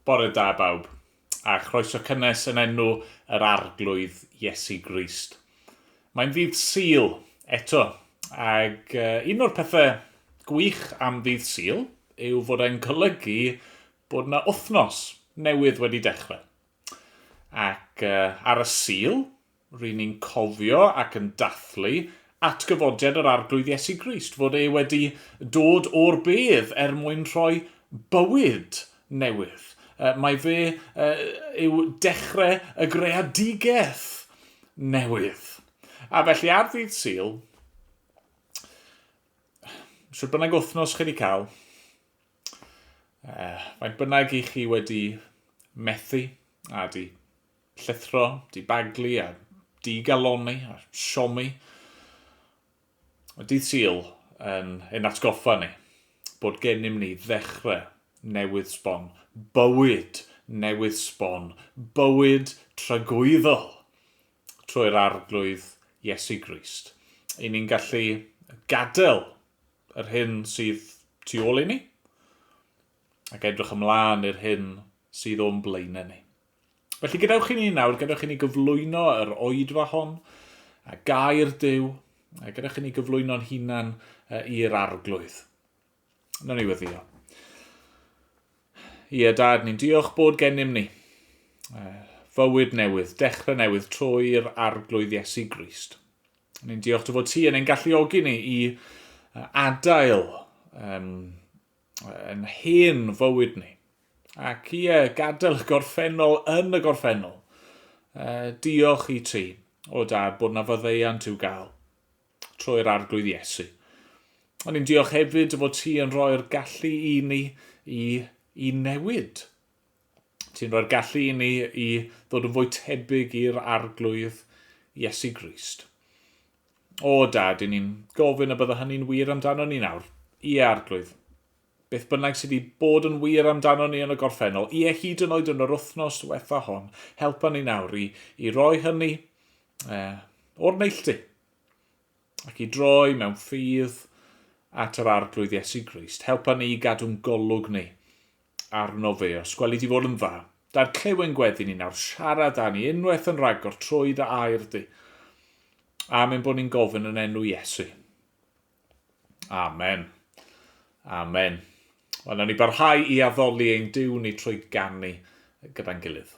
Bore da bawb, a chroeso cynnes yn enw yr Arglwydd Iesu Grist. Mae'n ddydd Sul, eto, ac un o'r pethau gwych am ddydd Sul yw fod e'n golygu bod yna wythnos newydd wedi dechrau. Ac ar y Sul, Ry'n ni'n cofio ac yn dathlu atgyfodiad yr Arglwydd Iesu Grist, fod e wedi dod o'r bedd er mwyn rhoi bywyd newydd. Mae fe yw dechrau y greadigaeth newydd. A felly ar ddydd Sul, sut bynnag wythnos chi wedi cael, faint bynnag i chi wedi methu, a di Llithro, dibaglu a digalonni a siomi. Mae dydd Sul yn ein atgoffa ni bod gennym ni ddechrau newydd sbon, bywyd newydd sbon, bywyd tragwyddol trwy'r Arglwydd Iesu Grist. I ni'n gallu gadael yr hyn sydd tu ôl i ni ac edrych ymlaen i'r hyn sydd o'n blaenau ni. Felly gadewch i ni nawr, gadewch i ni gyflwyno yr oedfa hon, a gair Dyw, a gadewch i ni gyflwyno'n hunan i'r arglwydd. Nawr ni weddio. Ie, dad, ni'n diolch bod gennym ni fywyd newydd, dechrau newydd trwy'r arglwydd Iesu Grist. Ni'n diolch dy fod ti yn ein galluogi ni i adael um, Yn hen fywyd ni. Ac ie, gadael y gorffennol yn y gorffennol. Uh, diolch i ti, o dad, bod na faddeuant i'w gael trwy'r arglwydd Iesu. Ond i'n diolch hefyd fod ti yn rhoi'r gallu i ni i, i newid. Ti'n rhoi'r gallu i ni i ddod yn fwy tebyg i'r Arglwydd, Iesu Grist. O, Dad, i ni'n gofyn y bydda hynny'n wir amdano ni nawr. Ie, Arglwydd. Beth bynnag sydd wedi bod yn wir amdano ni yn y gorffennol, ie, hyd yn oed yn yr wythnos diwetha hon, helpa ni nawr i, i roi hynny eh, o'r neilltu. ac i droi mewn ffydd at yr Arglwydd Iesu Grist. Helpa ni i gadw'n golwg ni arno fe. Os gweli di fod yn dda, da'r clewen gweddi ni nawr siarad â ni unwaith yn rhagor trwy dy air di. Amen bod ni'n gofyn yn enw Iesu. Amen. Amen. Wel, nawn ni barhau i addoli ein diw ni trwy gannu gyda'n gilydd.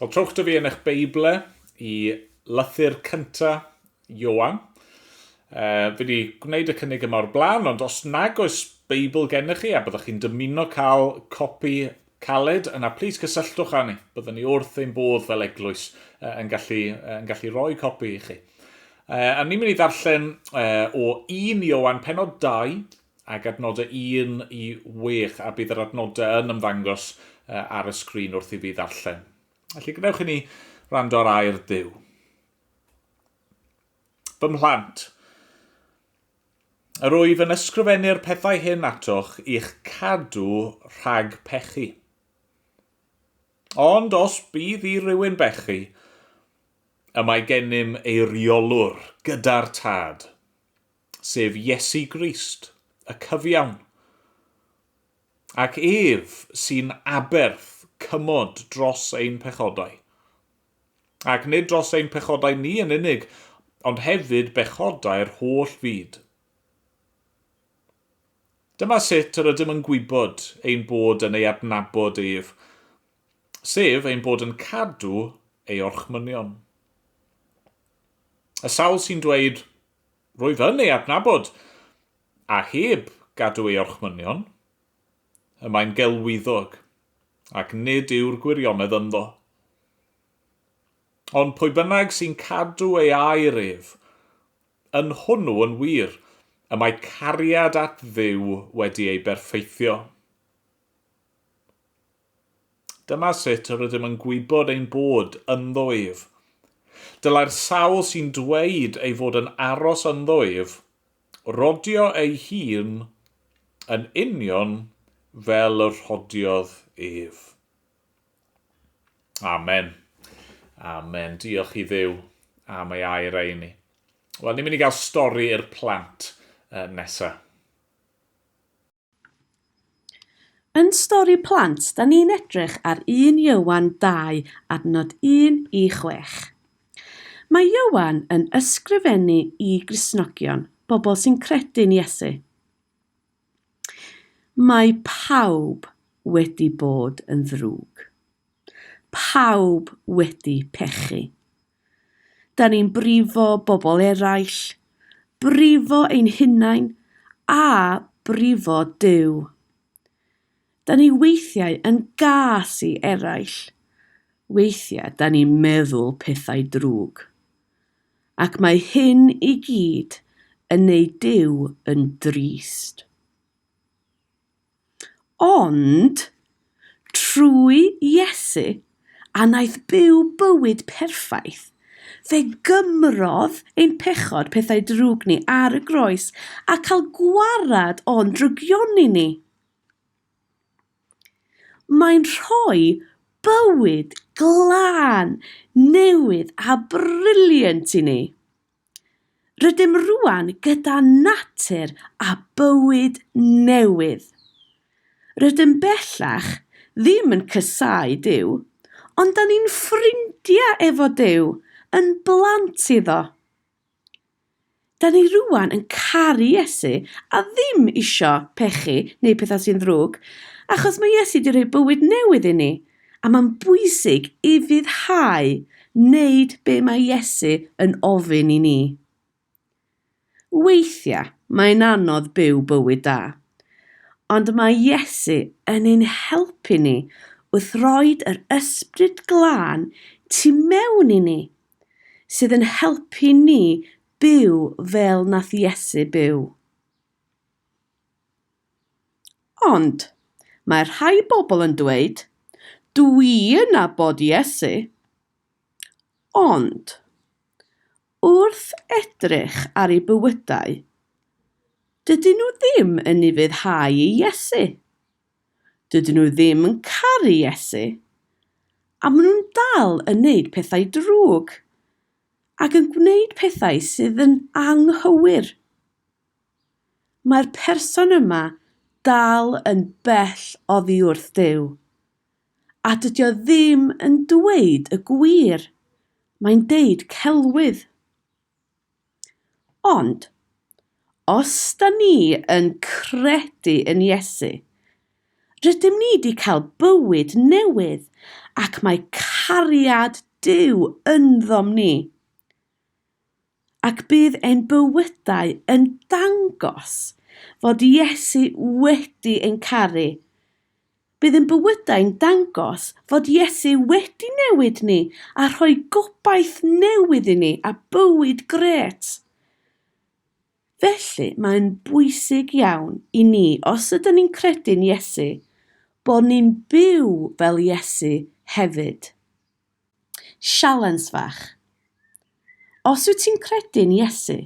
Wel, trowch da fi yn eich Beible i lythyr cynta Ioan. Uh, fi wedi gwneud y cynnig yma o'r blaen, ond os nag oes Beibl gennych chi a byddwch chi'n dymuno cael copi caled, yna plis cysylltwch â ni. Byddwn ni wrth ein bodd fel eglwys uh, yn, gallu, uh, yn gallu rhoi copi i chi. Uh, a ni'n mynd i ddarllen uh, o 1 Iowan penod 2, ag adnodau un i wech, a bydd yr adnodau yn ymddangos ar y sgrin wrth i fi ddarllen. Felly gwnewch i ni rando ar air Duw. Fy mhlant, yr wyf yn ysgrifennu'r pethau hyn atoch i'ch cadw rhag pechu. Ond os bydd i rywun bechu, y mae gennym eiriolwr gyda'r tad, sef Iesu Grist, y cyfiawn, ac ef sy'n aberth cymod dros ein pechodau. Ac nid dros ein pechodau ni yn unig, ond hefyd bechodau'r holl fyd. Dyma sut yr ydym yn gwybod ein bod yn ei adnabod ef, sef ein bod yn cadw ei orchmynion. Y sawl sy'n dweud, Rwyf yn ei adnabod, a heb gadw ei orchmynion, y mae'n gelwyddog, ac nid yw'r gwirionedd ynddo. Ond pwy bynnag sy'n cadw ei air ef, yn hwnnw yn wir y mae cariad at Dduw wedi ei berffeithio. Dyma sut yr ydym yn gwybod ein bod ynddo ef. Dylai'r sawl sy'n dweud ei fod yn aros ynddo ef rodio ei hun yn union fel y rhodiodd ef. Amen. Amen. Diolch i ddew am ei air ei ni. Wel, ni'n mynd i gael stori i'r plant uh, nesaf. Yn Stori Plant, da ni'n edrych ar 1 Ioan 2, adnod 1 i 6. Mae Ioan yn ysgrifennu i Gristnogion, bobl sy'n credu'n Iesu. Mae pawb wedi bod yn ddrwg. Pawb wedi pechu. Da ni'n brifo bobl eraill, brifo ein hunain a brifo Duw. Da ni weithiau yn gas i eraill. Weithiau da ni'n meddwl pethau drwg. Ac mae hyn i gyd yn ei Duw yn drist. Ond, trwy Iesu, a wnaeth byw bywyd perffaith, fe gymrodd ein pechod, pethau drwg ni, ar y groes, a cael gwared o'n drygioni ni. Mae'n rhoi bywyd glân, newydd a briliant i ni. Rydym rwan gyda natur a bywyd newydd. Rydym bellach ddim yn cysau Duw, ond da ni'n ffrindiau efo Duw, yn blant iddo. Da ni rwan yn caru Iesu a ddim isio pechu neu pethau sy'n ddrwg, achos mae Iesu wedi rhoi bywyd newydd i ni, A mae'n bwysig i ryddhau wneud be mae Iesu yn ofyn i ni. Weithiau mae'n anodd byw bywyd da, ond mae Iesu yn ein helpu ni wrth roed yr Ysbryd Glân tu mewn i ni, sydd yn helpu ni byw fel nath Iesu byw. Ond, mae rhai pobl yn dweud, 'Dw i yn nabod Iesu. Ond, wrth edrych ar eu bywydau, dydyn nhw ddim yn ufuddhau i Iesu. Dydyn nhw ddim yn caru Iesu, a maen nhw'n dal yn gwneud pethau drwg ac yn gwneud pethau sydd yn anghywir. Mae'r person yma dal yn bell oddi wrth Duw. A dydy o ddim yn dweud y gwir, mae'n deud celwydd. Ond, os da ni yn credu yn Iesu, rydym ni wedi cael bywyd newydd ac mae cariad Duw ynddo ni. Ac bydd ein bywydau yn dangos fod Iesu wedi ein caru. Bydd ein bywydau'n dangos fod Iesu wedi newid ni a rhoi gobaith newydd i ni a bywyd grêt. Felly mae'n bwysig iawn i ni, os ydyn ni'n credu'n Iesu, bod ni'n byw fel Iesu hefyd. Sialens fach. Os wyt ti'n credu'n Iesu,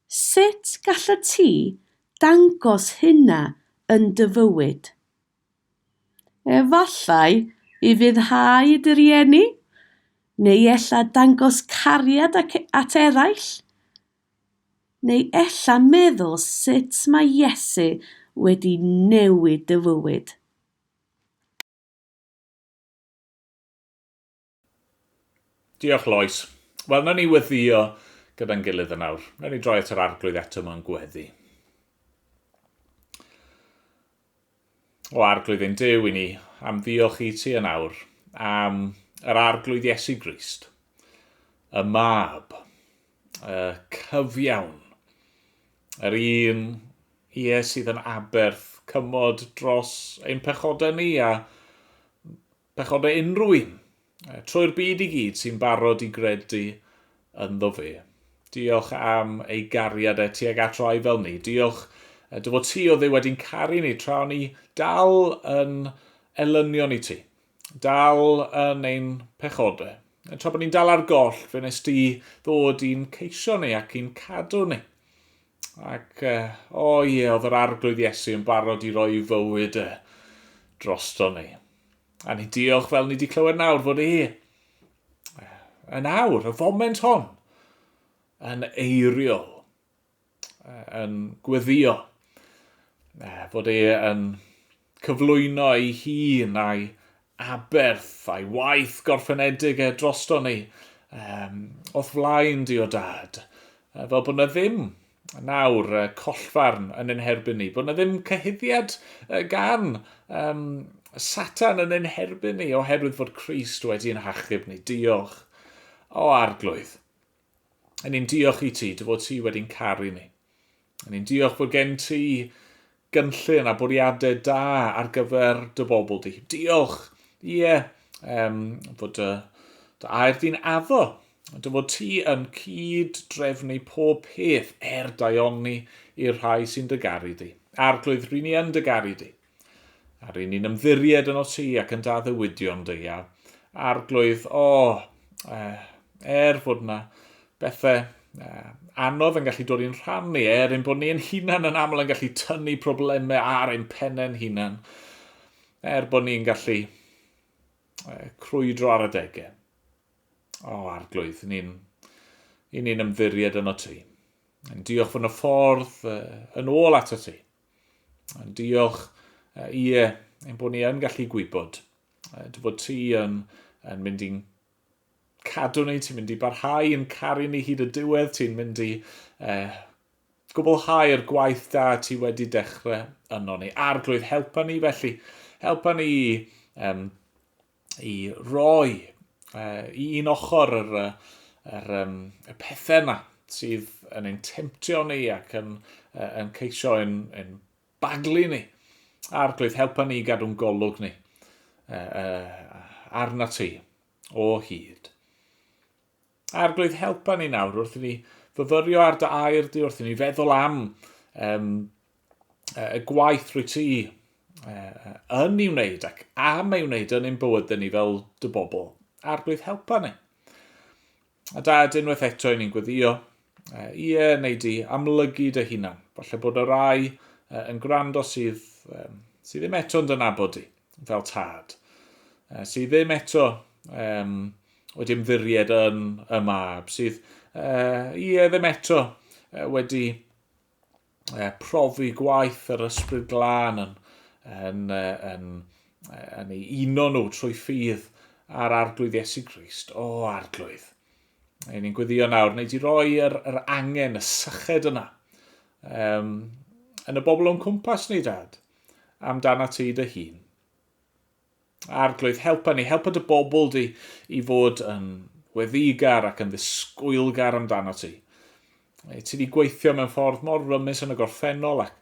sut gallet ti dangos hynna yn dy fywyd? Efallai i fuddhau dy rieni, neu ella dangos cariad at eraill, neu ella meddwl sut mae Iesu wedi newid dy fywyd. Diolch, Lois. Wel, na ni weddio gyda'n gilydd yn awr. Na ni droi at yr arglwydd eto mewn gweddi. O arglwydd ein Dyw i ni, am ddiolch i ti yn awr, am yr arglwydd Iesu Grist, y mab, uh, cyfiawn. Yr un, ie, sydd yn aberth cymod dros ein pechodau ni a pechodau unrhyw un, trwy'r byd i gyd sy'n barod i gredu ynddo fe. Diolch am ei gariad e tuag at rai fel ni. Diolch dy fod ti o dde wedi'n caru ni tra o'n ni dal yn elynion i ti. Dal yn ein pechode. Tra bod ni'n dal ar goll, fe nes di ddod i'n ceisio ni ac i'n cadw ni. Ac, o oh ie, yeah, oedd yr arglwydd Iesu yn barod i roi fywyd e drosto ni. A ni diolch fel ni wedi clywed nawr fod e yn awr, y foment hon, yn eiriol. yn gweddio, fod e yn cyflwyno ei hun a'i aberth a'i waith gorffenedig e drosto ni, um, o'th flaen di o dad, fel bod yna ddim nawr uh, collfarn yn ein herbyn ni, bod yna ddim cyhuddiad uh, gan um, Satan yn ein herbyn ni, oherwydd fod Christ wedi ein hachub ni. Diolch. O, arglwydd. Yn ni'n diolch i ti, dy fod ti wedi'n caru ni. Yn ni'n diolch bod gen ti gynllun a bwriadau da ar gyfer dy bobl di. Diolch, ie, yeah, um, bod dy, dy air di'n addo. Dy fod ti yn cyd drefnu pob peth er daioni i'r rhai sy'n dy garu di. Arglwydd, rydyn ni yn dy garu di. A ry'n ni'n ymddiried yn o ti ac yn da ddywydion dy ia. Arglwydd, o, eh, er fod yna bethau eh, anodd yn gallu dod i'n rhan ni, er yn bod ni yn hunan yn aml yn gallu tynnu problemau ar ein pennau'n hunan, er bod ni'n gallu eh, crwydro ar y degau. O, arglwydd, ni'n i ni'n ymddiried yn o ti. Yn diolch fod yna ffordd eh, yn ôl at y ti. Diolch. Ie, ein bod ni yn gallu gwybod dy fod ti yn, yn mynd i'n cadw ni, ti'n mynd i barhau yn caru ni hyd y diwedd, ti'n mynd i eh, gwblhau'r gwaith da ti wedi dechrau yno ni. Arglwydd, helpa ni felly, helpa ni i um, i roi uh, i un ochr yr, yr, um, y pethau yma sydd yn ein temtio ni ac yn, uh, yn ceisio yn, yn baglu ni. A'r glwydd helpa ni gadw'n golwg ni uh, uh, arna ti o hyd. Arglwydd helpa ni nawr wrth i ni fyfyrio ar dy air di, wrth i ni feddwl am um, y gwaith rwy ti uh, yn ei wneud ac am ei wneud yn ein bywydau ni fel dy bobl. Arglwydd helpa ni. A da, unwaith eto i ni'n gweddio, uh, i e neu di amlygu dy hunan. Falle bod y rai uh, yn gwrando sydd, um, sydd ddim eto'n dynabod di. fel tad, uh, sydd ddim eto um, wedi ymddiried yn y mab, sydd uh, ie ddim eto uh, wedi uh, profi gwaith yr ysbryd glân yn, yn, uh, yn, uh, yn ei uno nhw trwy ffydd ar arglwydd Iesu Grist. O, arglwydd! Ein ni'n gweddio nawr, neu di roi yr, yr angen, y syched yna, um, yn y bobl o'n cwmpas ni, dad. amdanat ti dy hun. Arglwydd, helpa ni, helpa dy bobl di i fod yn weddigar ac yn ddisgwylgar amdano ti. E, ti wedi gweithio mewn ffordd mor rymus yn y gorffennol ac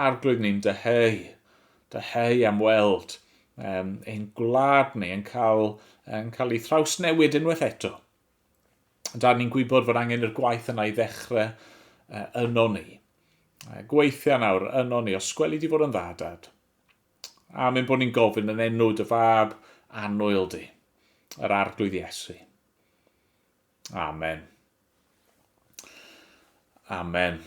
arglwydd ni'n dyheu, dyheu am weld um, ein gwlad ni yn cael, yn cael ei thrawsnewid unwaith eto. Ond da ni'n gwybod fod angen i'r gwaith yna i ddechrau uh, yno ni. Uh, gweithio nawr yno ni, os gweli di fod yn dda, dad. A mynd bod ni'n gofyn yn enw dy fab anwyl di, yr arglwydd Iesu. Amen. Amen.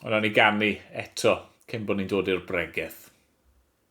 Ond o'n i ganu eto cyn bod ni'n dod i'r bregeth.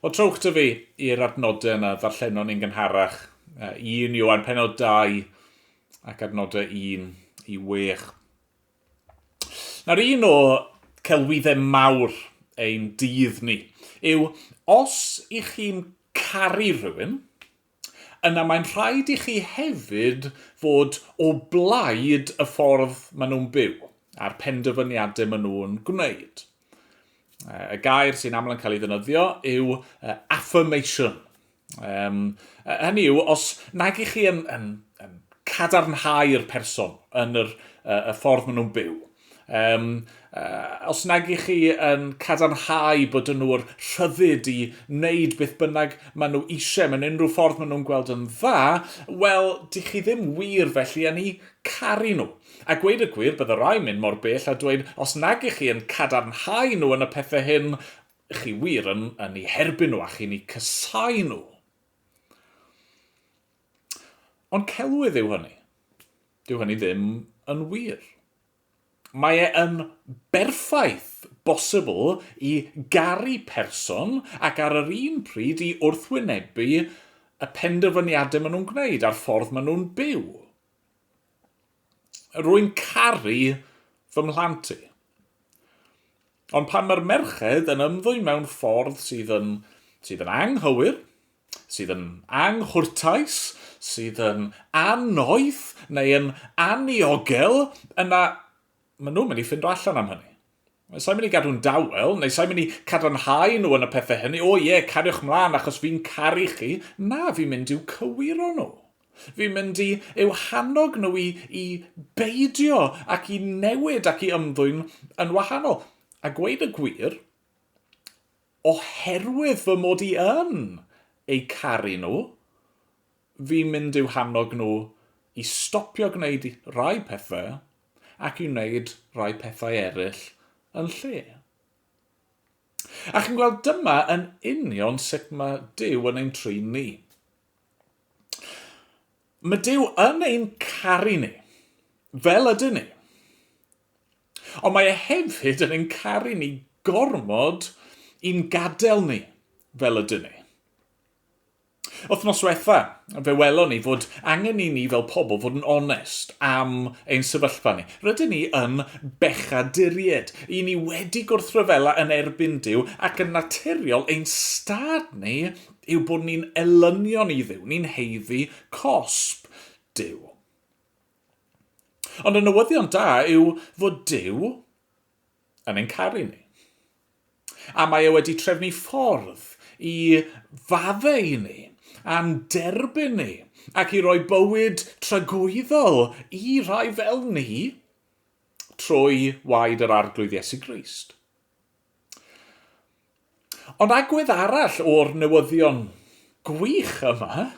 Wel, trowch 'da fi i'r adnodau yna ddarllenon ni'n gynharach, uh, 1 Ioan penod 2 ac adnodau 1 i 6. Nawr un o celwyddau mawr ein dydd ni yw os i chi'n caru rhywun, yna mae'n rhaid i chi hefyd fod o blaid y ffordd maen nhw'n byw a'r penderfyniadau maen nhw'n gwneud. Y gair sy'n aml yn cael ei ddynyddio yw affirmation. Um, hynny yw, os nag i chi yn, yn, yn cadarnhau'r person yn yr, y ffordd maen nhw'n byw, Um, uh, os nag i chi yn cadarnhau bod yn nhw'r rhyddid i wneud beth bynnag maen nhw eisiau mewn unrhyw ffordd maen nhw'n gweld yn dda, wel, di chi ddim wir felly yn ei caru nhw. A gweud y gwir, bydd y rai mynd mor bell a dweud, os nag i chi yn cadarnhau nhw yn y pethau hyn, chi wir yn, yn ei herbyn nhw a chi'n ei cysau nhw. Ond celwydd yw hynny. Dyw hynny ddim yn wir. Mae e yn berffaith bosibl i garu person ac ar yr un pryd i wrthwynebu y penderfyniadau maen nhw'n gwneud a'r ffordd maen nhw'n byw. Rwy'n caru fy mhlant i. Ond pan mae'r merched yn ymddwyn mewn ffordd sydd yn, sydd yn anghywir, sydd yn anghwrtais, sydd yn annoeth neu yn anniogel, yna maen nhw'n mynd i ffindo allan am hynny. Sa'n mynd i gadw'n dawel, neu sa'n mynd i cadarnhau nhw yn y pethau hynny, o ie, cariwch mlaen achos fi'n caru chi. Na, fi'n mynd i'w cywiro nhw. Fi'n mynd i eu hannog nhw i, i beidio ac i newid ac i ymddwyn yn wahanol. A gweud y gwir, Oherwydd fy mod i yn eu caru nhw, fi'n mynd i'w hannog nhw i stopio gwneud rhai pethau ac i wneud rhai pethau eraill yn lle. A chi'n gweld, dyma yn union sut mae Duw yn ein trin ni. Mae Duw yn ein caru ni, fel ydyn ni. Ond mae e hefyd yn ein caru ni gormod i'n gadael ni fel ydyn ni. Wythnos diwetha, fe welon ni fod angen i ni fel pobl fod yn onest am ein sefyllfa ni. Rydyn ni yn bechaduried. I ni wedi gwrthryfela yn erbyn Duw ac yn naturiol ein stad ni yw bod ni'n elynion i Dduw, ni'n haeddu cosb Duw. Ond y newyddion da yw fod Duw yn ein caru ni. A mae e wedi trefnu ffordd i faddau ni, a'n derbyn ni, ac i roi bywyd tragwyddol i rai fel ni trwy waed yr Arglwydd Iesu Grist. Ond agwedd arall o'r newyddion gwych yma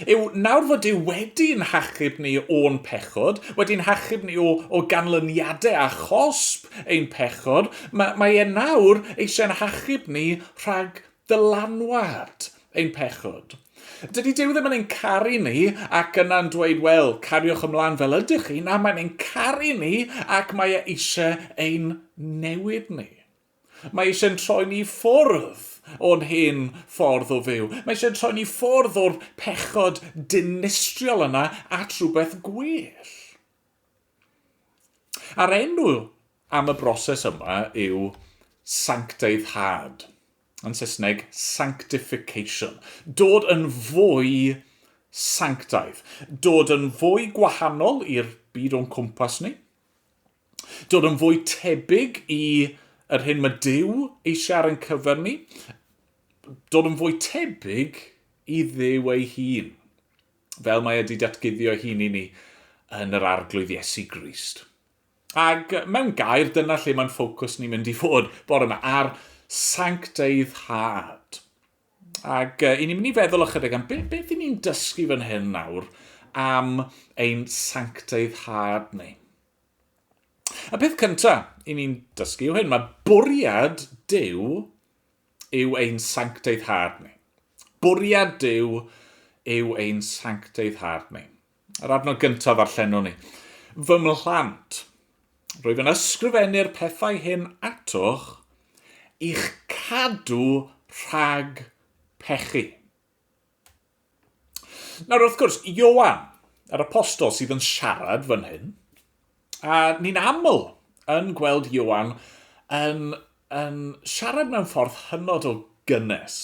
Yw, nawr fod Duw wedi'n hachub ni o'n pechod, wedi'n hachub ni o, o ganlyniadau a chosb ein pechod, mae, mae e nawr eisiau'n hachub ni rhag dylanwad ein pechod. Dydy Duw ddim yn ein caru ni ac yna'n dweud, wel, cariwch ymlaen fel ydych chi, na, mae'n ein caru ni ac mae e eisiau ein newid ni. Mae eisiau'n troi ni ffwrdd o'n hen ffordd o fyw. Mae eisiau'n troi ni ffwrdd o'r pechod dinistriol yna at rhywbeth gwell. A'r enw am y broses yma yw sancteiddhad. Yn Saesneg, sanctification. Dod yn fwy sanctaidd. Dod yn fwy gwahanol i'r byd o'n cwmpas ni. dod yn fwy tebyg i yr hyn mae Dyw eisiau ar ein cyfer ni, dod yn fwy tebyg i ddew ei hun, fel mae wedi datguddio hun i ni yn yr arglwydd Iesu Grist. Ac mewn gair, dyna lle mae'n ffocws ni'n mynd i fod bore yma, ar sancteiddhad. Ac uh, i ni'n mynd i feddwl ychydig am beth, beth i ni'n dysgu fan hyn nawr am ein sanctaidd had ni. Y peth cyntaf i ni'n dysgu yw hyn, mae bwriad Dyw yw ein sanctaidd had ni. Bwriad Dyw yw ein sanctaidd had ni. Yr adnod gyntaf ddarllenwn ni. Fy mhlant, rwyf yn ysgrifennu'r pethau hyn atoch i'ch cadw rhag pechu. Nawr, wrth gwrs, Ioan, yr apostol sydd yn siarad fan hyn, A ni'n aml yn gweld Ioan yn, yn siarad mewn ffordd hynod o gynnes,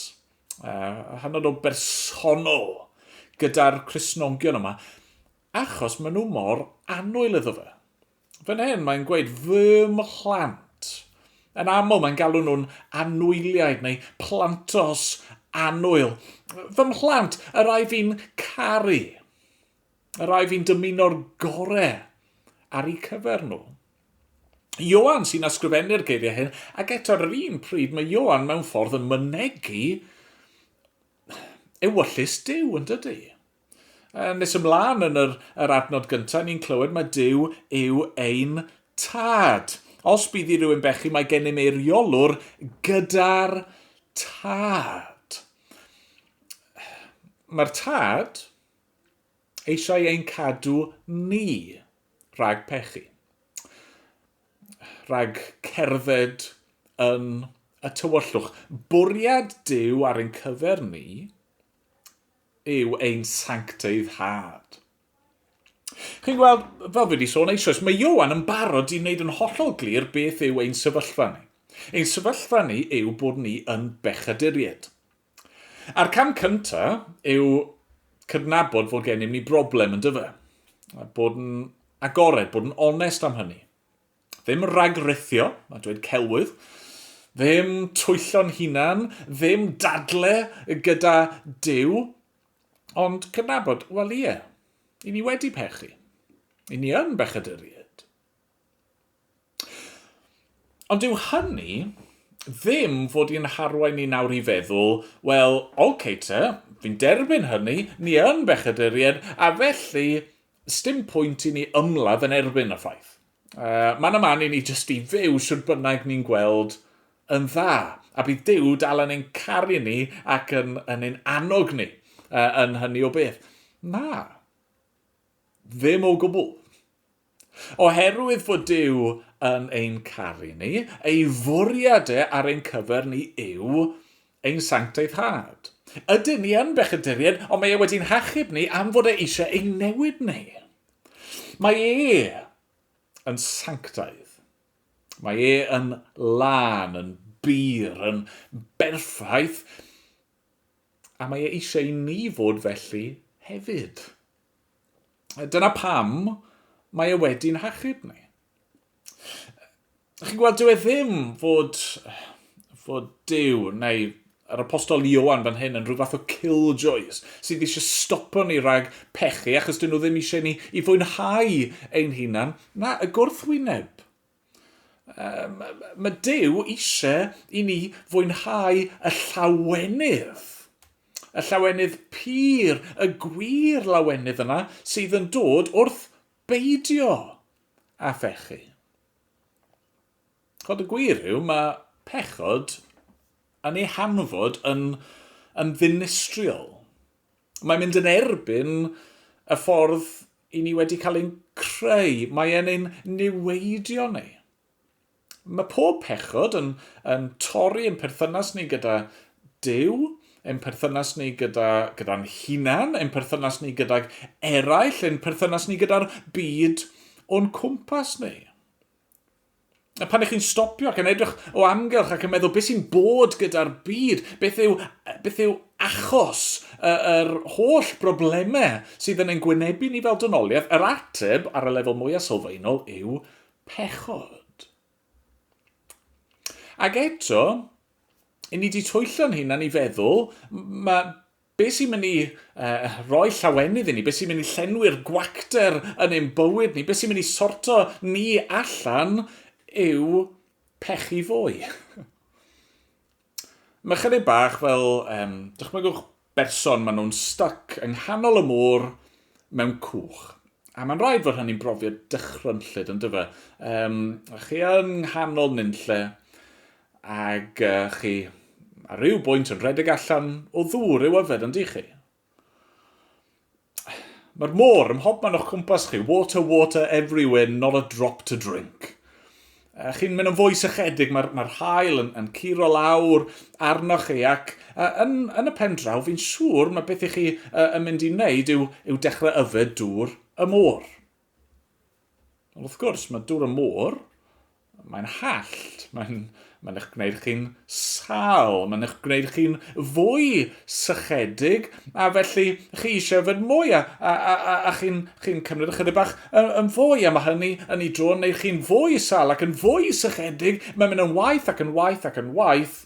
uh, hynod o bersonol gyda'r Cresnogion yma, achos maen nhw mor anwyl iddo fe. Fan hyn, mae'n gweud, fy mhlant. Yn aml, mae'n galw nhw'n anwyliaid neu plantos anwyl. Fy mhlant, yr ai fi'n caru. y rai fi'n dymuno'r gore ar eu cyfer nhw. Ioan sy'n ysgrifennu'r geiriau hyn, ac eto ar yr un pryd mae Ioan mewn ffordd yn mynegu ewyllus Dyw yn dydy. Nes ymlaen yn yr, yr adnod gyntaf, ni'n clywed mae Dyw yw ein tad. Os bydd i rywun bechu, mae gennym ei reolwr gyda'r tad. Mae'r tad, eisiau ein cadw ni rhag pechu, rhag cerdded yn y tywyllwch. Bwriad Duw ar ein cyfer ni yw ein sancteiddhad. Chi'n gweld, fel fi wedi sôn eisoes, mae Iowan yn barod i wneud yn hollol glir beth yw ein sefyllfa ni. Ein sefyllfa ni yw bod ni yn bechaduried. A'r cam cynta yw cydnabod fod gennym ni broblem yn dyfa. A bod yn agored, bod yn onest am hynny. Ddim ragrithio, a dweud celwydd, ddim twyllo'n hunan, ddim dadle gyda Dyw, ond cydnabod, wel ie, i ni wedi pechu. I ni yn bechaduriaid. Ond dyw hynny ddim fod i'n harwain ni nawr i feddwl, 'Wel, ok te, fi'n derbyn hynny, ni yn bechaduriaid, a felly, 'sdim pwynt i ni ymladd yn erbyn y ffaith. Uh, man a man i ni jyst i fyw sydd bynnag ni'n gweld yn dda, a bydd Duw dal yn ein caru ni ac yn, yn ein annog ni uh, yn hynny o beth. Na, ddim o gwbl. Oherwydd fod Duw yn ein caru ni, ei fwriad e ar ein cyfer ni yw ein sancteiddhad. Ydyn ni yn bechaduriaid, ond mae e wedi'n hachub ni am fod e eisiau ein newid ni. Mae e yn sanctaidd. Mae e yn lân, yn bur, yn berffaith, a mae e eisiau i ni fod felly hefyd. Dyna pam mae e wedi'n hachub ni. Chi'n gweld, dyw e ddim fod, fod Dyw neu yr apostol Iowan fan hyn yn rhyw fath o killjoys sydd eisiau stopo ni rhag pechu achos dyn nhw ddim eisiau ni i fwynhau ein hunan. Na, y gwrthwyneb Um, mae Dyw eisiau i ni fwynhau y llawenydd. Y llawenydd pur, y gwir lawenydd yna sydd yn dod wrth beidio a phechu. Chod y gwir yw, mae pechod yn ei hanfod yn, yn ddinistriol. Mae'n mynd yn erbyn y ffordd i ni wedi cael ein creu. Mae e'n ein niweidio ni. Mae pob pechod yn, yn torri yn perthynas ni gyda Dyw, ein perthynas ni gyda, gyda'n hunan, ein perthynas ni gydag eraill, ein perthynas ni gyda'r byd o'n cwmpas ni. A pan ych chi'n stopio ac yn edrych o amgylch ac yn meddwl beth sy'n bod gyda'r byd, beth yw, beth yw achos yr er holl broblemau sydd yn ein gwynebu ni fel dynoliaeth, yr ateb ar y lefel mwyaf sylfaenol yw pechod. Ac eto, i ni di twyllo'n hunan i feddwl, mae Beth sy'n mynd i roi llawenydd i ni? Beth sy'n mynd i llenwi'r gwacter yn ein bywyd ni? Beth sy'n mynd i sorto ni allan yw pechu fwy. Mae chydig bach fel, um, dychmygwch berson, maen nhw'n stuck yng nghanol y môr mewn cwch. A mae'n rhaid fod hynny'n brofiad dychrynllyd, yn dyfa. Um, a chi yn nghanol nynlle, Ac chi, ar ryw bwynt yn rhedeg allan o ddŵr i'w yfed yn dych chi? Mae'r môr ym mhob man o'ch cwmpas chi, water, water everywhere, not a drop to drink. A chi'n mynd yn fwy sychedig, mae'r mae hael yn, yn curo lawr arnoch chi, ac uh, yn, yn y pen draw, fi'n siŵr mae beth i chi uh, yn mynd i wneud yw, yw dechrau yfed dŵr y môr. Ond wrth gwrs, mae dŵr y môr Mae'n hallt, mae'n mae'n eich gwneud chi'n sal, mae'n eich gwneud chi'n fwy sychedig, a felly chi eisiau yfed mwy, a, a, a, a, a chi'n chi cymryd ychydig bach yn, yn fwy, a mae hynny yn ei dro yn gwneud chi'n fwy sal ac yn fwy sychedig, mae'n mynd yn waith ac yn waith ac yn waith,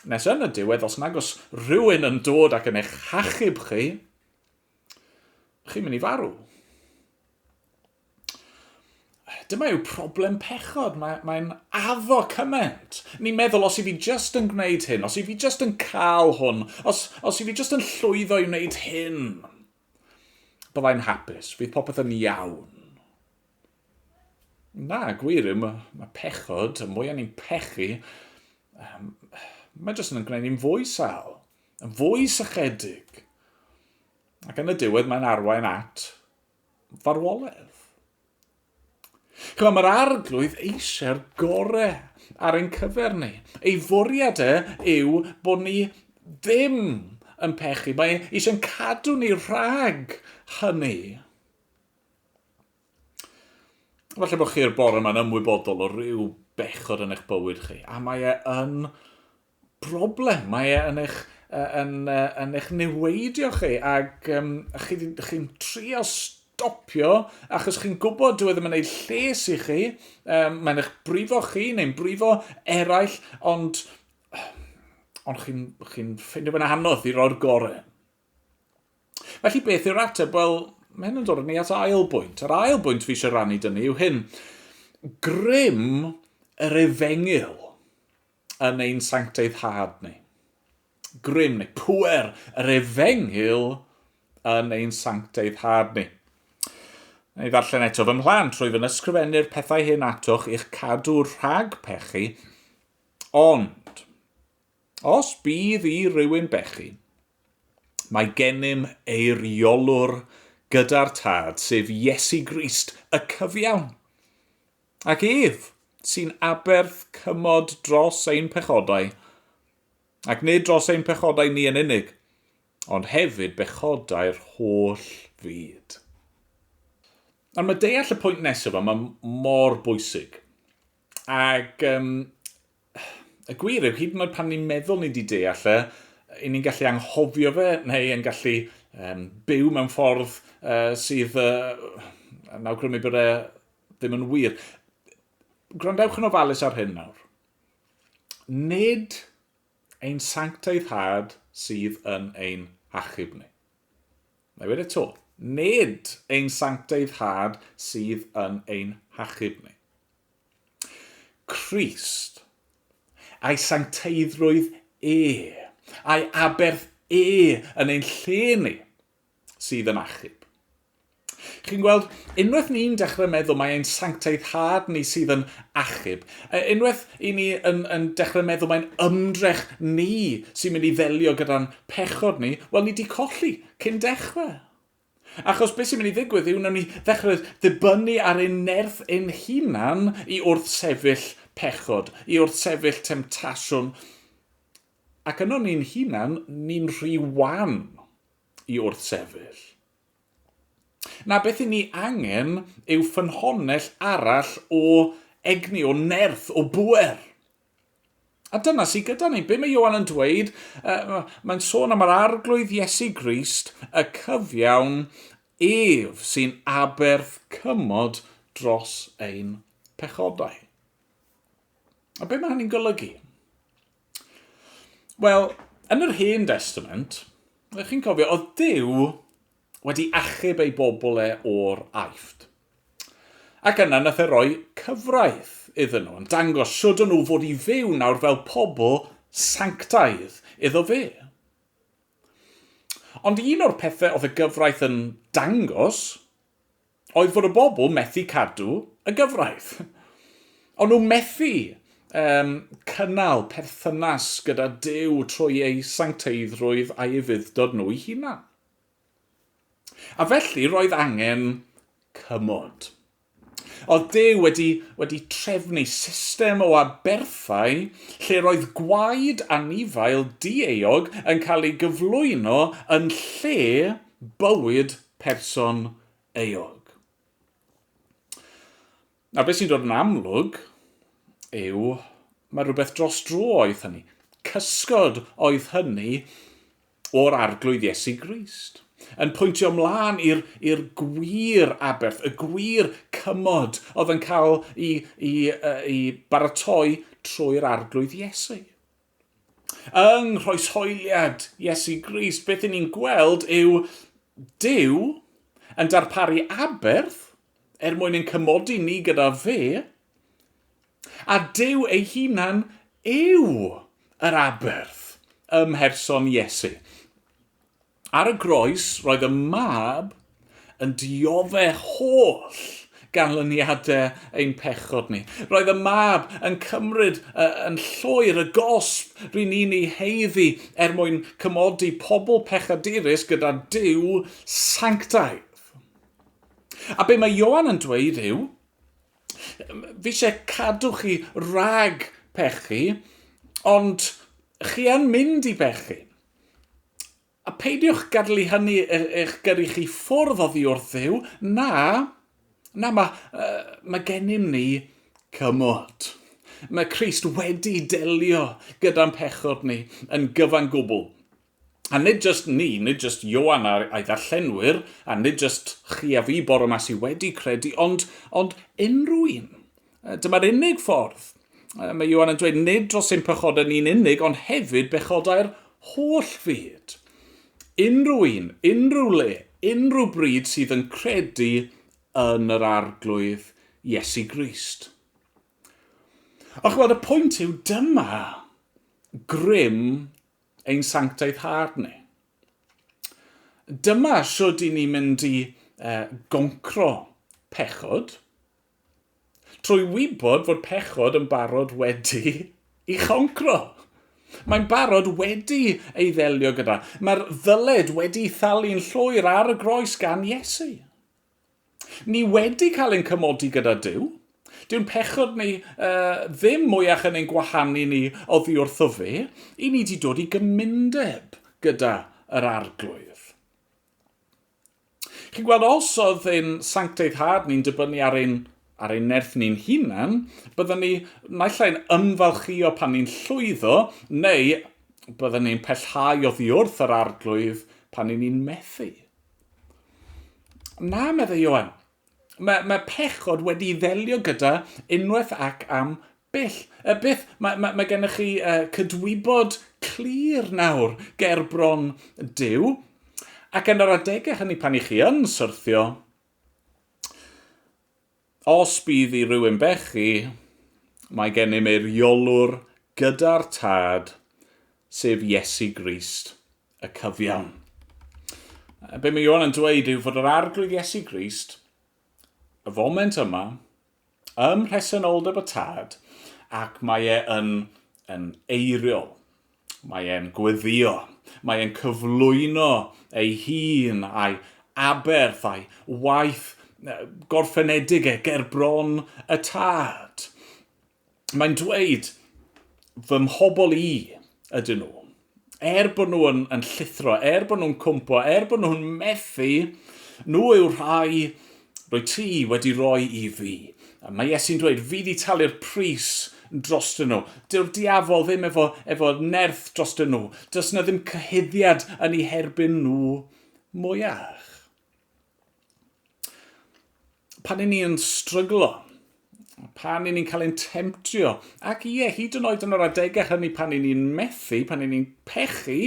nes yn y diwedd, os nag os rhywun yn dod ac yn eich hachub chi, chi'n mynd i farw. Dyma yw problem pechod, mae'n mae addo cymaint. Ni'n meddwl, os i fi just yn gwneud hyn, os i fi just yn cael hwn, os, os i fi just yn llwyddo i wneud hyn, byddai'n hapus, fydd popeth yn iawn. Na, gwir yw, mae, mae pechod, y mwyaf ni'n pechu, um, mae jyst yn gwneud ni'n fwy sal, yn fwy sychedig. Ac yn y diwedd mae'n arwain at farwoledd. Chwa, mae'r arglwydd eisiau'r gore ar ein cyfer ni. Ei fwriad e yw bod ni ddim yn pechu. Mae eisiau'n cadw ni rhag hynny. Falle bod chi'r bore yma'n ymwybodol o ryw bechod yn eich bywyd chi, a mae e yn broblem mae e yn eich, yn, yn eich niweidio chi ac um, chi'n chi trio stopio achos chi'n gwybod dwi e ddim yn ei lles i chi, um, mae'n eich brifo chi neu'n brifo eraill, ond, ond chi'n chi ffeindio fe'n anodd i roi'r gorau. Felly beth yw'r ateb? Wel, mae hyn yn dod yn ni at ail bwynt. Yr ail bwynt fi eisiau rannu dyn ni yw hyn. Grym yr efengyl. yn ein sancteiddhad ni. Grym neu pwer yr efengyl yn ein sancteiddhad ni. Neu ddarllen eto fy mhlant, rwyf yn ysgrifennu'r pethau hyn atoch i'ch cadw rhag pechu, ond os bydd i rywun bechu, mae gennym eiriolwr gyda'r tad, sef Iesu Grist, y cyfiawn. Ac ef, sy'n aberth cymod dros ein pechodau, ac nid dros ein pechodau ni yn unig, ond hefyd bechodau'r holl fyd. Ond mae deall y pwynt nesaf yma mor bwysig. Ac um, y gwir yw, hyd yn oed pan ni'n meddwl ni wedi deall e, i ni'n gallu anghofio fe, neu yn gallu um, byw mewn ffordd uh, sydd uh, yn awgrymu bod e ddim yn wir. Gwrandewch yn ofalus ar hyn nawr. Nid ein sanctaidd had sydd yn ein achub ni. Mae wedi to. Nid ein sanctaidd had sydd yn ein hachub ni. Christ, a'i sancteiddrwydd e, a'i aberth e yn ein lle ni, sydd yn achub. Chi'n gweld, unwaith ni'n dechrau meddwl mae ein sancteiddhad ni sydd yn achub, e, unwaith i ni yn, yn dechrau meddwl mae'n ymdrech ni sy'n mynd i ddelio gyda'n pechod ni, wel, ni di colli cyn dechrau. Achos beth sy'n mynd i ddigwydd yw wnawn ni ddechrau ddibynnu ar ein nerth ein hunan i wrth sefyll pechod, i wrth sefyll temtasiwn, ac yno ni'n hunan, ni'n rhy wan i wrthsefyll. Na beth i ni angen yw ffynhonnell arall o egni, o nerth, o bwer. A dyna sydd gyda ni. Be mae Iowan yn dweud? Uh, mae'n sôn am yr arglwydd Iesu Grist, y cyfiawn ef sy'n aberth cymod dros ein pechodau. A be mae hynny'n golygu? Wel, yn yr Hen Destament, ydych chi'n cofio, oedd Dyw wedi achub ei bobl e o'r aifft. Ac yna nath e roi cyfraith iddyn nhw, yn dangos siwd o'n nhw fod i fyw nawr fel pobl sanctaidd iddo fe. Ond un o'r pethau oedd y gyfraith yn dangos oedd fod y bobl methu cadw y gyfraith. O'n nhw methu um, cynnal perthynas gyda Dyw trwy ei sancteiddrwydd a'i fuddod nhw i hunan. A felly roedd angen cymod. Oedd Dyw wedi, wedi trefnu system o aberthau lle roedd gwaed anifail dieog yn cael ei gyflwyno yn lle bywyd person euog. Nawr beth sy'n dod yn amlwg yw mae rhywbeth dros dro oedd hynny. Cysgod oedd hynny o'r arglwydd Iesu Grist. Yn pwyntio ymlaen i'r gwir aberth, y gwir cymod oedd yn cael ei, ei, ei baratoi trwy'r arglwydd Iesu. Yng nghroeshoeliad Iesu Grist, beth i ni'n gweld yw Duw yn darparu aberth er mwyn ein cymodi ni gyda fe, a Duw ei hunan yw yr aberth ym mherson Iesu. Ar y groes, roedd y mab yn diodde' holl ganlyniade' ein pechod ni. Roedd y mab yn cymryd y, yn llwyr, y gosb ry'n ni'n ei haeddu er mwyn cymodi pobl pechadurus gyda Duw sanctaidd. A be mae Ioan yn dweud yw, fi eisiau cadw chi rhag pechu, ond chi yn mynd i bechu. A peidiwch gadlu hynny e- eich gyrru chi ffwrdd oddi wrth Dduw, na, na, mae, uh, mae gennym ni cymod. Mae Christ wedi delio gyda'n pechod ni yn gyfan gwbl. A nid just ni, nid just Ioan a'r a'i ddarllenwyr, a nid just chi a fi bore yma sydd wedi credu, ond, ond unrhyw un Dyma'r unig ffordd. Mae Iwan yn dweud nid dros ein pechodau ni'n unig, ond hefyd bechodau'r holl fyd. Unrhyw un, unrhyw le, unrhyw bryd sydd yn credu yn yr arglwydd Iesu Grist. A chwbod, y pwynt yw dyma grym ein sanctaeth hard ni. Dyma sydd i ni mynd i uh, goncro pechod, Trwy wybod fod pechod yn barod wedi i choncro. Mae'n barod wedi ei ddelio gyda. Mae'r ddyled wedi thalu'n llwyr ar y groes gan Iesu. Ni wedi cael ein cymodi gyda Dyw. Dyw'n pechod ni uh, ddim mwyach yn ein gwahanu ni oddi wrtho fe. I ni wedi dod i gymundeb gyda yr arglwydd. Chi'n gweld, os oedd ein sancteiddhad ni'n dibynnu ar ein, ar ein nerth ni'n hunan, byddwn ni naill ai'n ymfalchio pan ni'n llwyddo, neu byddwn ni'n pellhau oddi wrth yr arglwydd pan ni'n ni'n methu. Na, meddai Ioan, mae, mae pechod wedi ddelio gyda unwaith ac am Byth, yy byth, mae, mae, mae gennych chi uh, cydwybod clir nawr ger bron Dyw, ac yn yr adegau hynny pan i chi yn syrthio, os bydd i rywun bechu, mae gennym ei riolwr gyda'r tad, sef Iesu Grist, y cyfiawn. Be mae Iwan yn dweud yw fod yr arglwydd Iesu Grist, y foment yma, ym mhresenoldeb y tad ac mae e yn, yn eiriol. Mae e'n gweddio, mae e'n cyflwyno ei hun a'i aberth a'i waith gorffenedig e ger bron y tad. Mae'n dweud, fy mhobl i ydyn nhw. Er bod nhw yn, yn llithro, er bod nhw'n cwmpo, er bod nhw'n methu, nhw yw'r rhai roi ti wedi roi i fi. A mae Iesu'n dweud, fi wedi talu'r pris dros dyn nhw. Dyw'r diafol ddim efo, efo nerth dros dyn nhw. Does na ddim cyhuddiad yn ei herbyn nhw mwyach. Pan i ni'n stryglo, pan i ni'n cael ein temtio, ac ie, hyd yn oed yn yr adegau hynny pan i ni'n methu, pan i ni'n pechu,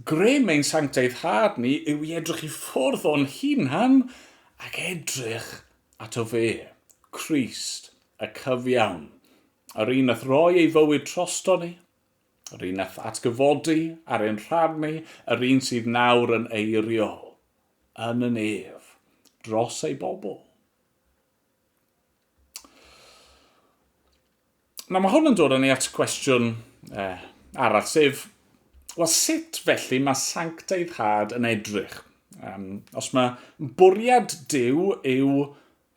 grym ein sancteiddhad ni yw i edrych i ffwrdd o'n hunan ac edrych at o fe, Christ, y cyfiawn, yr un a throi ei fywyd trosto ni, Yr un nath atgyfodi ar ein rhan ni, yr un sydd nawr yn eiriol, yn y nef, dros ei bobl. Nawr mae hwn yn dod â ni at gwestiwn eh, arall, sef, wel sut felly mae sancteiddhad yn edrych? Um, os mae bwriad Dyw yw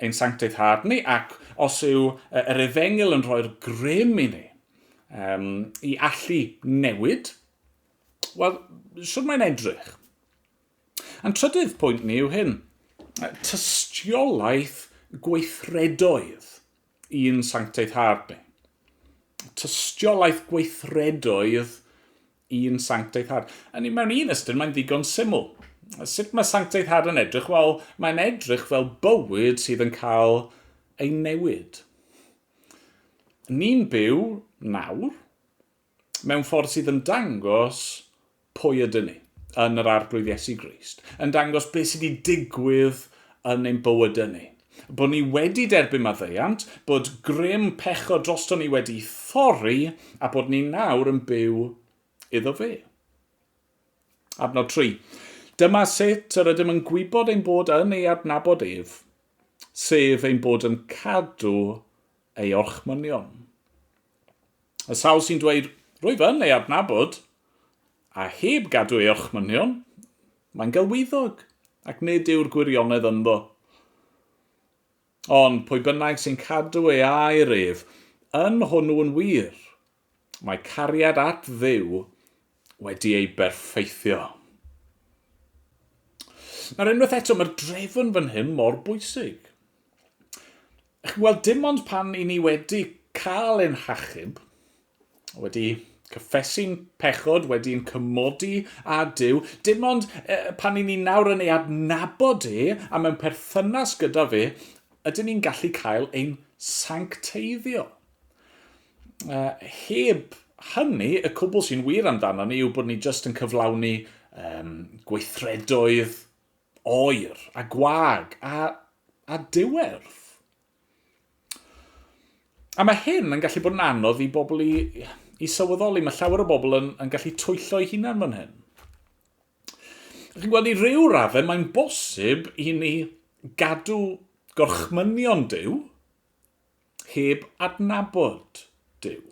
Ein sanctaidd hâd ni, ac os yw yr efengyl yn rhoi'r grym i ni um, i allu newid, wel, siwr mae'n edrych. A'n trydydd pwynt ni yw hyn, tystiolaeth gweithredoedd i'n sanctaidd hâd ni. Tystiolaeth gweithredoedd un sanctaidd had. Yn mewn un ystyr, mae'n ddigon syml. Sut mae sanctaidd had yn edrych? Wel, mae'n edrych fel bywyd sydd yn cael ei newid. Ni'n byw nawr mewn ffordd sydd yn dangos pwy ydyn ni yn yr arglwydd Iesu Grist, yn dangos beth sydd wedi digwydd yn ein bywydau ni. bod ni wedi derbyn maddeuant, bod grym pechod drosto ni wedi thorri a bod ni nawr yn byw iddo fe. Adnod 3. Dyma sut yr ydym yn gwybod ein bod yn ei adnabod ef, sef ein bod yn cadw ei orchmynion. Y sawl sy'n dweud, rwyf yn ei adnabod, a heb gadw ei orchmynion, mae'n gelwyddog, ac nid yw'r gwirionedd ynddo. Ond pwy bynnag sy'n cadw ei air ef, yn hwnnw'n wir, Mae cariad at Dduw wedi ei berffeithio. Nawr unwaith eto, mae'r drefn fan hyn mor bwysig. Ych chi'n gweld, dim ond pan i ni wedi cael ein hachub, wedi cyffesu'n pechod, wedi'n cymodi a Dyw, dim ond e, pan i ni nawr yn ei adnabod e a mewn perthynas gyda fe, ydyn ni'n gallu cael ein sancteiddio. Heb hynny, y cwbl sy'n wir amdano ni yw bod ni jyst yn cyflawni um, gweithredoedd oer a gwag a, a diwerth. A mae hyn yn gallu bod yn anodd i bobl i, i sylweddoli. Mae llawer o bobl yn, yn gallu twyllo ei hunan fan hyn. Chi'n gweld, i ryw raddau, mae'n bosib i ni gadw gorchmynion Dyw heb adnabod Duw.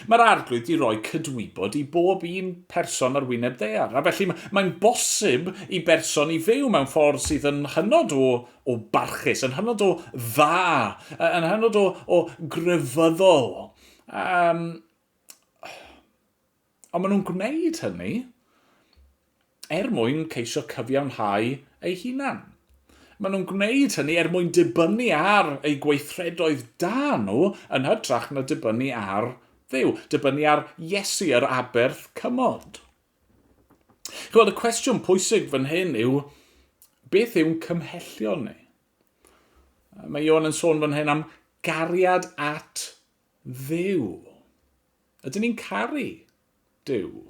Mae'r Arglwydd wedi rhoi cydwybod i bob un person ar wyneb ddaear, a felly mae'n bosib i berson i fyw mewn ffordd sydd yn hynod o, o barchus, yn hynod o dda, yn hynod o, o grefyddol. Um, Ond maen nhw'n gwneud hynny er mwyn ceisio cyfiawnhau eu hunain. Maen nhw'n gwneud hynny er mwyn dibynnu ar eu gweithredoedd da nhw yn hytrach na dibynnu ar Dduw, dibynnu ar Iesu, yr aberth cymod. Chi'n gweld, y cwestiwn pwysig fan hyn yw, beth yw'n cymhellion ni? Mae Ion yn sôn fan hyn am gariad at ddew. Ydyn ni'n caru Duw?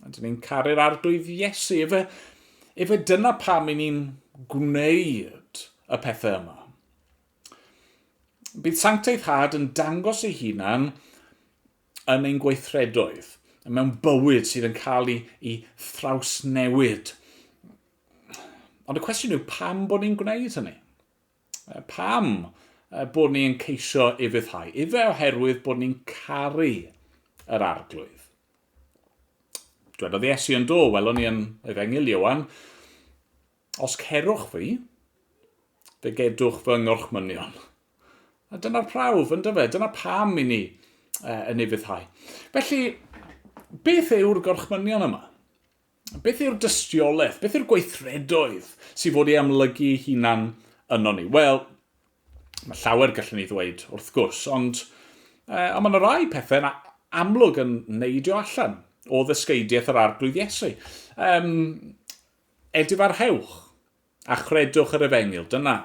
Ydyn ni'n caru'r arglwydd Iesu? Efe, efe dyna pam i ni'n gwneud y pethau yma. Bydd sancteiddhad yn dangos ei hunan yn ein gweithredoedd, mewn bywyd sydd yn cael ei, ei thrawsnewid. Ond y cwestiwn yw pam bod ni'n gwneud hynny? Pam bod ni yn ceisio ufuddhau? Ife oherwydd bod ni'n caru yr arglwydd? Dwedodd Iesu yn do, welwn ni yn Efengil Iowan, Os cerwch fi, fe gedwch fy ngorchmynion. A dyna'r prawf, yn dyfe? Dyna pam i ni uh, yn ufuddhau. Felly, beth yw'r gorchmynion yma? Beth yw'r dystiolaeth? Beth yw'r gweithredoedd sy'n fod ei amlygu ei hunan yno ni? Wel, mae llawer gallwn ni ddweud wrth gwrs, ond, eh, ond mae yna rai pethau yna amlwg yn neidio allan o ddysgeidiaeth yr arglwydd Iesu. Um, edifarhewch a chredwch yr efengil, dyna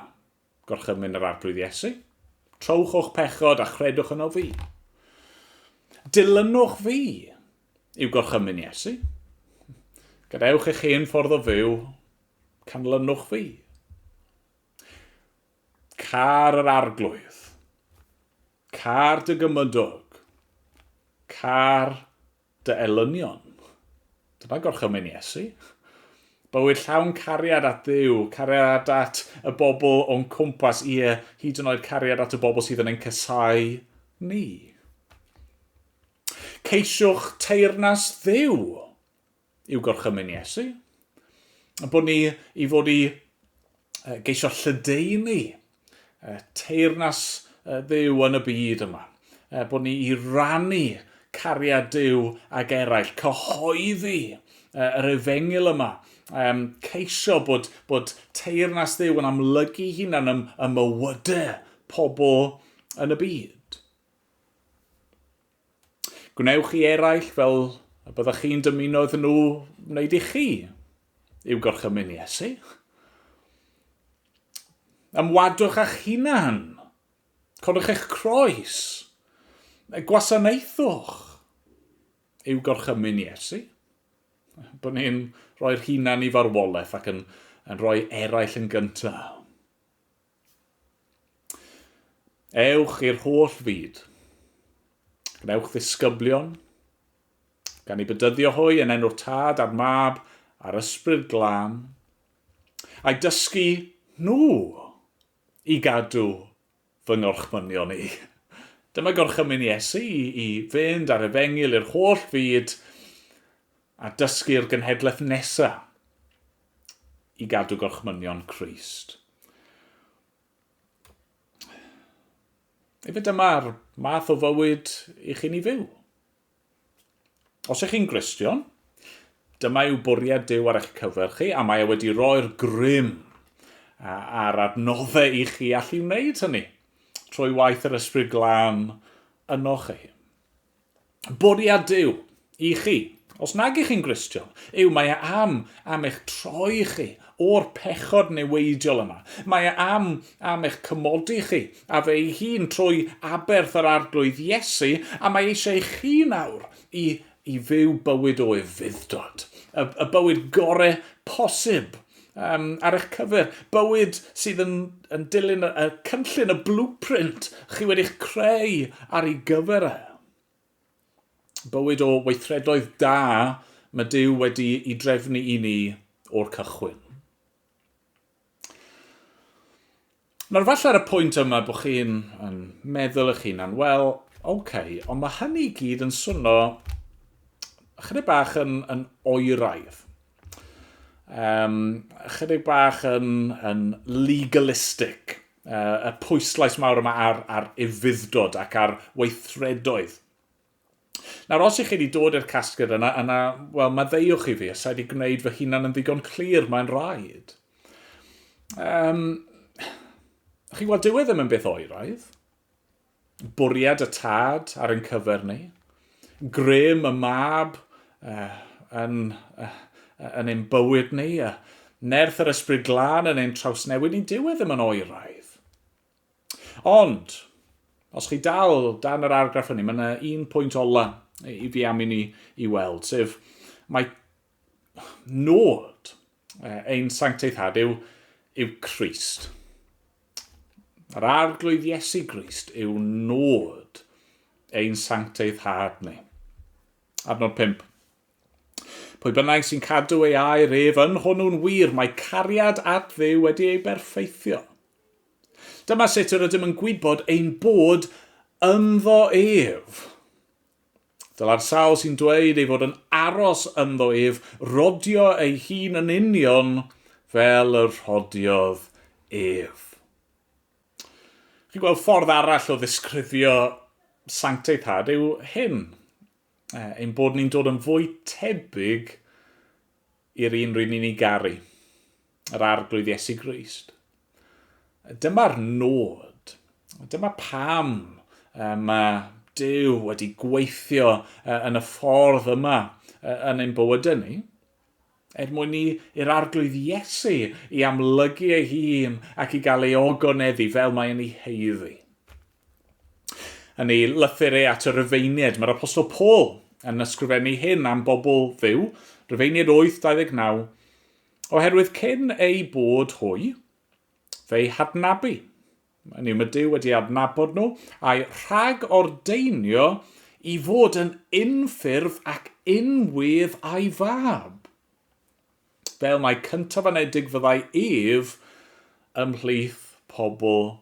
Gorchymyn yr Arglwydd Iesu. Trowch o'ch pechod a chredwch yno fi. Dilynwch fi yw gorchymyn Iesu. Gadewch eich hen ffordd o fyw, canlynwch fi. Car yr Arglwydd. Car dy gymydog. Car Dy elynion. Dyna gorchymyn Iesu. Bywyd llawn cariad at Dduw, cariad at y bobl o'n cwmpas, ie, hyd yn oed cariad at y bobl sydd yn ein casáu ni. Ceisiwch teyrnas Dduw yw gorchymyn Iesu. Bod ni i fod i geisio lledaenu teyrnas Dduw yn y byd yma, bod ni i rannu cariad Duw ag eraill, cyhoeddi yr efengyl yma, um, ceisio bod, bod teyrnas Dduw yn amlygu hunan ym, ym mywydau pobl yn y byd. Gwnewch i eraill fel y byddwch chi'n dymuno iddyn nhw wneud i chi. Yw gorchymyn Iesu. Ymwadwch â'ch hunan. Codwch eich croes. Gwasanaethwch. Yw gorchymyn Iesu. Bod ni'n rhoi'r hunan i farwolaeth ac yn, yn rhoi eraill yn gyntaf. Ewch i'r holl fyd. Gwnewch ddisgyblion, gan ei bedyddio hwy yn enw'r Tad a'r Mab a'r Ysbryd Glân, a'i dysgu nhw i gadw fy ngorchmynion i. Dyma gorchymyn Iesu i, i fynd ar efengyl i'r holl fyd a dysgu'r genhedlaeth nesa. i gadw gorchmynion Crist. Efo dyma'r math o fywyd i chi'n ei fyw. Os ych chi'n Gristion, dyma yw bwriad Dyw ar eich cyfer chi, a mae e wedi roi'r grym a'r adnoddau i chi allu wneud hynny, trwy waith yr Ysbryd Glân yno chi. Bwriad Duw i chi, os nag ych chi'n Gristion, yw mae e am am eich troi chi o'r pechod neweidiol yma. Mae e am am eich cymodi chi a fe ei hun trwy aberth yr Arglwydd Iesu, a mae eisiau i chi nawr i i fyw bywyd o ufudd-dod, y, y bywyd gore posib Um, ar eich cyfer, bywyd sydd yn, yn dilyn y, y cynllun, y blueprint chi wedi'ch creu ar ei gyfer e. Bywyd o weithredoedd da mae Dyw wedi i drefnu i ni o'r cychwyn. Nawr falle ar y pwynt yma bod chi'n meddwl eich hunan, wel, oce, okay, ond mae hynny i gyd yn swno chydig bach yn, yn oeraidd. Um, chydig bach yn, yn legalistic. Uh, y pwyslais mawr yma ar, ar ufuddod ac ar weithredoedd. Nawr, os ych chi wedi dod i'r casgliad yna, yna, wel, maddeuwch i fi, os wedi gwneud fy hunan yn ddigon clir, mae'n rhaid. Um, chi'n gweld, dyw e ddim yn beth oeraidd. Bwriad y tad ar ein cyfer ni. Grym y mab uh, yn, uh, yn ein bywyd ni. Uh, nerth yr ysbryd glân yn ein trawsnewid ni. Dyw e ddim yn oeraidd. Ond, os chi dal dan yr argraff hynny, mae yna un pwynt ola i fi am i ni i weld, sef mae nod ein sancteithad yw, yw Christ. Yr arglwydd Iesu Grist yw nod ein sancteidd had ni. Adnod 5. Pwy bynnag sy'n cadw ei air ef yn hwnnw'n wir, mae cariad at Dduw wedi ei berffeithio. Dyma sut yr ydym yn gwybod ein bod ynddo ef. Dyla'r sawl sy'n dweud ei fod yn aros ynddo ef rodio ei hun yn union fel y rhodiodd ef. Chi'n gweld ffordd arall o ddisgrifio sancteiddhad yw hyn. eh, ein bod ni'n dod yn fwy tebyg i'r un rydyn ni'n ei garu, yr arglwydd Iesu Grist. Dyma'r nod. Dyma pam mae Dyw wedi gweithio yn y ffordd yma yn ein bywydau ni. Er mwyn i i'r Arglwydd Iesu i amlygu ei hun ac i gael ei ogoneddu fel mae yn ei haeddu. Yn ei lythyr e at y Rufeiniaid, mae'r Apostol Paul yn ysgrifennu hyn am bobl ddiw, Rufeiniaid 8:29, Oherwydd cyn eu bod hwy, fe'i hadnabu, Hynny yw, mae Duw wedi adnabod nhw, a'i rhag-ordeinio i fod yn unffurf ac unwydd a'i fab. Fel mae cyntaf anedig fyddai ef ymhlith pobl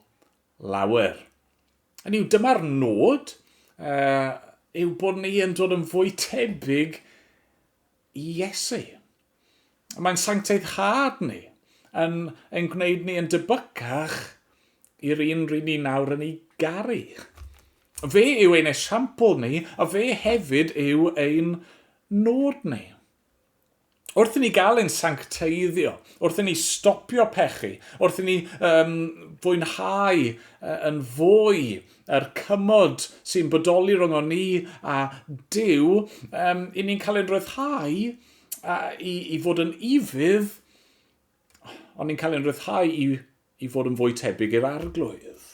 lawer. Hynny yw, dyma'r nod, uh, yw bod ni yn dod yn fwy tebyg i Iesu. Mae'n sancteiddhad ni, yn ein gwneud ni yn debycach i'r un rydyn ni nawr yn ei garu. Fe yw ein esiampl ni, a fe hefyd yw ein nod ni. Wrth i ni gael ein sancteiddio, wrth i ni stopio pechu, wrth i ni um, fwynhau uh, yn fwy yr cymod sy'n bodoli rhwng o'n ni a Duw, um, i ni'n cael ein rhyddhau a, i, i fod yn ifydd, ond ni'n cael ein rhyddhau i, i fod yn fwy tebyg i'r arglwydd.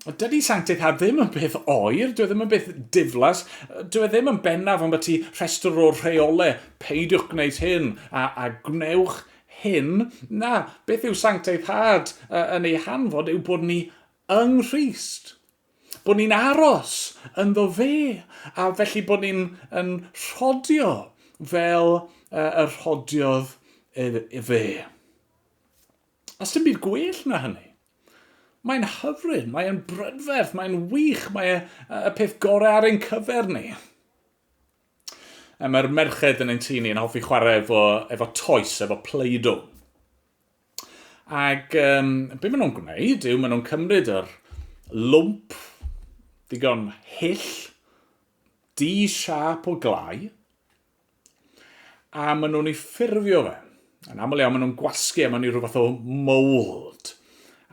Dydy sanctitha ddim yn beth oer, dwi e ddim yn beth diflas, dwi e ddim yn bennaf ond beth ti rhestr o'r rheole, peidiwch gwneud hyn a, a gwnewch hyn. Na, beth yw sancteiddhad yn ei hanfod yw bod ni yng Nghrist, bod ni'n aros ynddo fe, a felly bod ni'n yn rhodio fel uh, y rhodiodd ef, fe. A sy'n byd gwell na hynny. Mae'n hyfryd, mae'n brydferth, mae'n wych, mae e, y peth gorau ar ein cyfer ni. Mae'r merched yn ein tŷ ni yn hoffi chwarae efo, efo toes, efo pleido. Ac um, be maen nhw'n gwneud yw maen nhw'n cymryd yr lwmp ddigon hyll, di siap o glai, a maen nhw'n ei ffurfio fe. Yn aml iawn maen nhw'n gwasgu a maen nhw'n rhywbeth o mold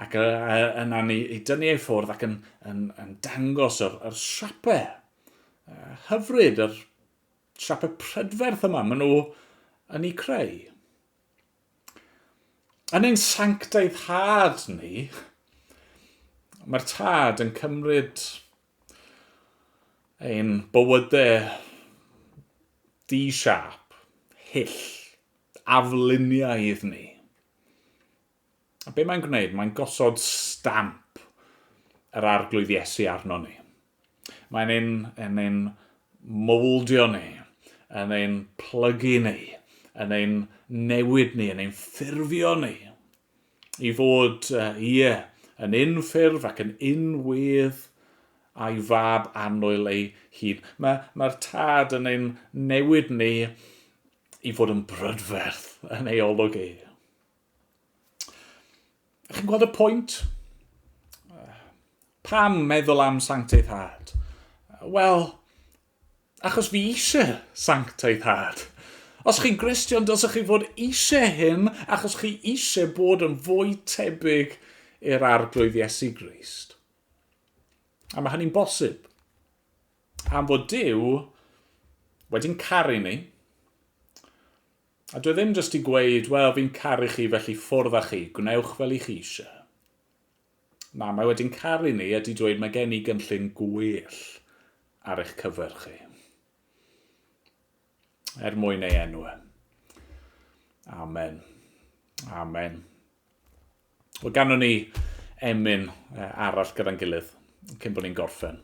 ac yna ni i dynnu ei ffwrdd ac yn, yn, yn dangos yr, yr siapau uh, hyfryd, yr siapau prydferth yma maen nhw yn ei creu. Yn ein sanctaidd had ni, mae'r tad yn cymryd ein bywydau di-siâp, hyll, afluniaidd ni. A be mae'n gwneud? Mae'n gosod stamp yr arglwydd Iesu arno ni. Mae'n ein, yn ein mowldio ni, yn ein plygu ni, yn ein newid ni, yn ein ffurfio ni, i fod, uh, ie, yn unffurf ac yn unwedd a'i fab annwyl ei hun. Mae'r ma, ma tad yn ein newid ni i fod yn brydferth yn ei olwg ei. Chi'n gweld y pwynt? Pam meddwl am sancteiddhad? Wel, achos fi eisiau sancteiddhad. Os chi'n Gristion, dylsech chi fod eisiau hyn achos chi eisiau bod yn fwy tebyg i'r arglwydd Iesu Grist. A mae hynny'n bosib. Am fod Dyw wedi'n caru ni, A dwi ddim jyst i gweud, wel, fi'n caru chi felly ffwrdd â chi, gwnewch fel i chi eisiau. Na, mae wedi'n caru ni a di dweud mae gen i gynllun gwell ar eich cyfer chi. Er mwyn ei enw e. Amen. Amen. Wel, ganwn ni emyn arall gyda'n gilydd cyn bod ni'n gorffen.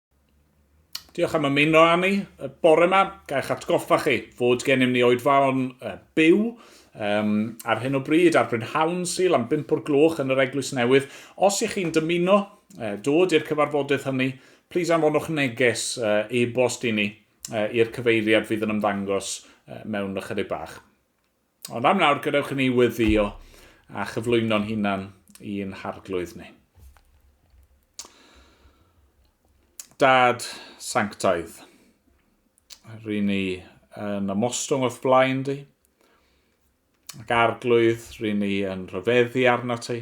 Diolch am ymuno â ni y bore yma. Gaech atgoffa chi fod gennym ni oedfaon uh, byw um, ar hyn o bryd ar Bryn Hawn Sil am 5 o'r gloch yn yr Eglwys Newydd. Os ych chi'n dymuno uh, dod i'r cyfarfodydd hynny, plis anfonwch neges uh, e-bost i ni uh, i'r cyfeiriad fydd yn ymddangos uh, mewn ychydig bach. Ond am nawr, gadewch i ni weddio a chyflwyno'n hunan i'n harglwydd ni. Dad sanctaidd, rydyn ni yn ymostwng o'th blaen di, ac arglwydd rydyn ni yn rhyfeddu arno ti,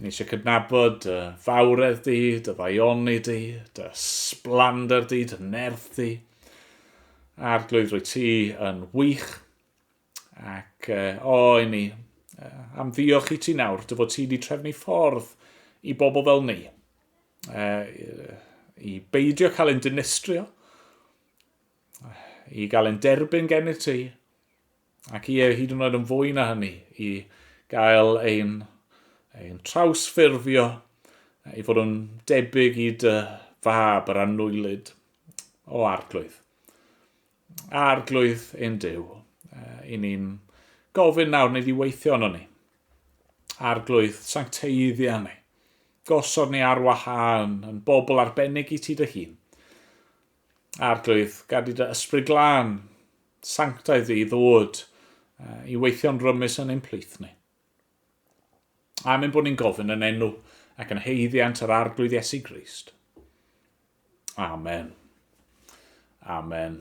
Ni eisiau cydnabod dy fawredd di, dy ddaioni di, dy sblander di, dy nerth di. Arglwydd, rwy ti yn wych. Ac o, i ni am ddiolch i ti nawr, dy fod ti wedi trefnu ffordd i bobl fel ni, i beidio cael ein dinistrio, i gael ein derbyn gennych ti, ac ie, hyd yn oed yn fwy na hynny, i gael ein, ein trawsffurfio i fod yn debyg i dy fab yr annwylyd o arglwydd. Arglwydd ein Dyw, i ni'n gofyn nawr neu ddiweithio yno ni. Arglwydd, sancteiddia ni. Gosod ni ar wahân yn bobl arbennig i ti dy hun. Arglwydd, gad i dy ysbryd glân, sanctaidd ddi, ddod uh, i weithio'n rymus yn ein plith ni. Amen bod ni'n gofyn yn enw ac yn heiddiant yr Arglwydd Iesu Grist. Amen. Amen.